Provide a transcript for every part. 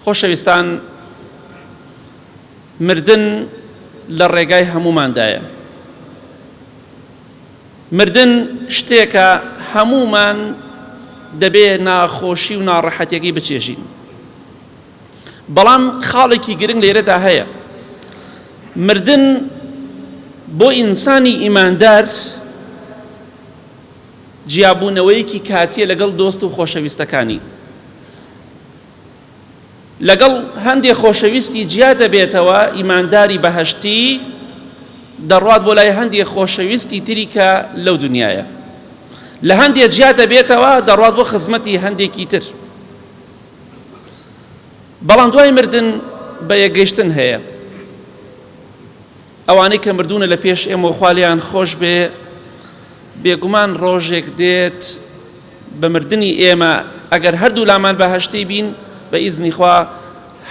خۆشەویستان مردن لە ڕێگای هەموماندایە. مردن شتێکە هەمومان دەبێ ناخۆشی و ناڕەحەتەکەی بچێژین. بەڵام خاڵێکی گرنگ لێرەدا هەیە مردن بۆ ئینسانی ئیماندار جیابوونەوەیەکی کاتیە لەگەڵ دۆست و خۆشەویستەکانی لەگەڵ هەندێ خۆشەویستی جیا دەبێتەوە ئیمانداری بەهشتی دەڕوات بۆ لای هەندێ خۆشەویستی تری کە لەو دنیاە لە هەندێ جیا دەبێتەوە دەڕوات بۆ خزمەتی هەندێکی تر بەڵام دوای مردن بە یەگەشتن هەیە ئەوانەی کە مردونە لە پێش ئێمە خالیان خۆش بێ بێگومان ڕۆژێک دێت بە مردنی ئێمە ئەگەر هەردوولامان بەهەشتی بین بە ئیزنی خوا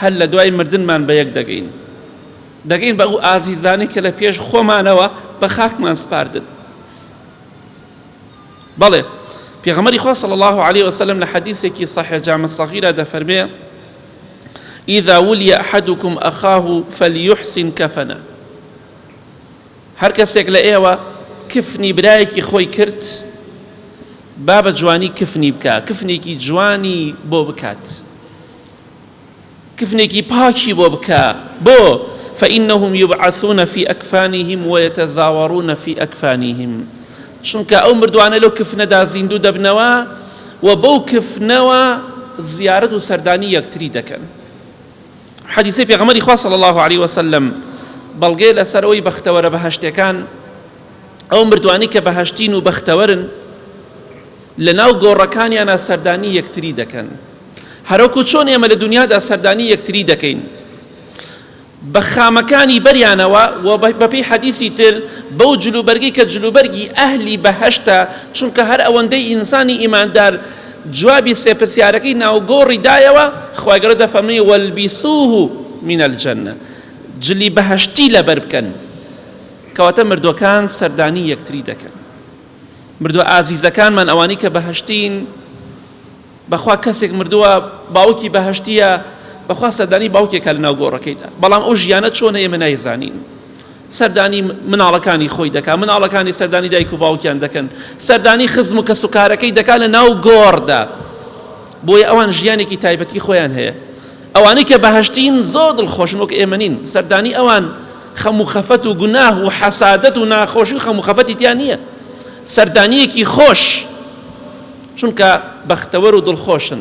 هەر لە دوای مردنمان بە یەک دەگەین دەگەین بە ئەو ئازیزانی کە لە پێش خۆمانەوە بە خاکمان سپاردن بەڵێ پێغەمەری خوا صلی الله عليه وسلم لە حەدیثێکی صحیح جامع صغیرە دەفەرمێ إذا ولي أحدكم أخاه فليحسن كفنه هەر کەسێک لە ئێوە کفنی برایەکی خۆی کرد با بە جوانی کفنی بکا کفنێکی جوانی بۆ بکات کفنێکی پاکی بۆ بکە بۆ فإنهم يبعثون في أكفانهم ويتزاورون في أكفانهم چونکە ئەو مردوانە لەو کفنەدا زیندوو دەبنەوە و بەو کفنەوە زیارت و سەردانی یەکتری دەکەن حەدیسی پێغەمەری خوا صلی الله علیه وسلم بەڵگەی لەسەر ئەوی بەختەوەرە بەهشتەکان ئەو مردوانی کە بەهشتین و بەختەوەرن لە ناو گۆڕەکانیانە سەردانی یەکتری دەکەن هەرۆکو چۆن ئێمە لە دنیادا سەردانی یەکتری دەکەین بە خامەکانی بەریانەوە و بەپی حەدیسی تر بەو جلوبەرگی کە جلوبەرگی ئەهلی بەهشتە چونکە هەر ئەوەندەی ئینسانی ئیماندار جوابی سێ پرسیارەکەی ناو گۆڕی دایەوە، خوای گەورە دەفەرمووی، والبسوه من الجنە، جلی بەهەشتی لەبەر بکەن، کەواتە مردووەکان سەردانی یەکتری دەکەن، مردووە ئازیزەکانمان ئەوانەی کە بەهەشتین، بەخوا کەسێک مردووە باوکی بەهەشتیە، بەخوا سەردانی باوکێکە لەناو گۆڕەکەیدا، بەڵام ئەو ژیانە چۆنە ئێمە نایزانین، سەردانی مناڵەکانی خۆی دەکات، مناڵەکانی سەردانی دایک و باوکیان دەکەن، سەردانی خزم و کەسوکارەکەی دەکات لە ناو گۆڕدا، بۆیە ئەوان ژیانێکی تایبەتی خۆیان هەیە. ئەوانەی کە بەهەشتین زۆر دڵخۆشن وەک ئێمە نین سەردانی ئەوان خەم و خەفەت و گوناه و حەسادەت و ناخۆشی و خەم و خەفەتی تیا نییە سەردانیەکی خۆش چونکە بەختەوەر و دڵخۆشن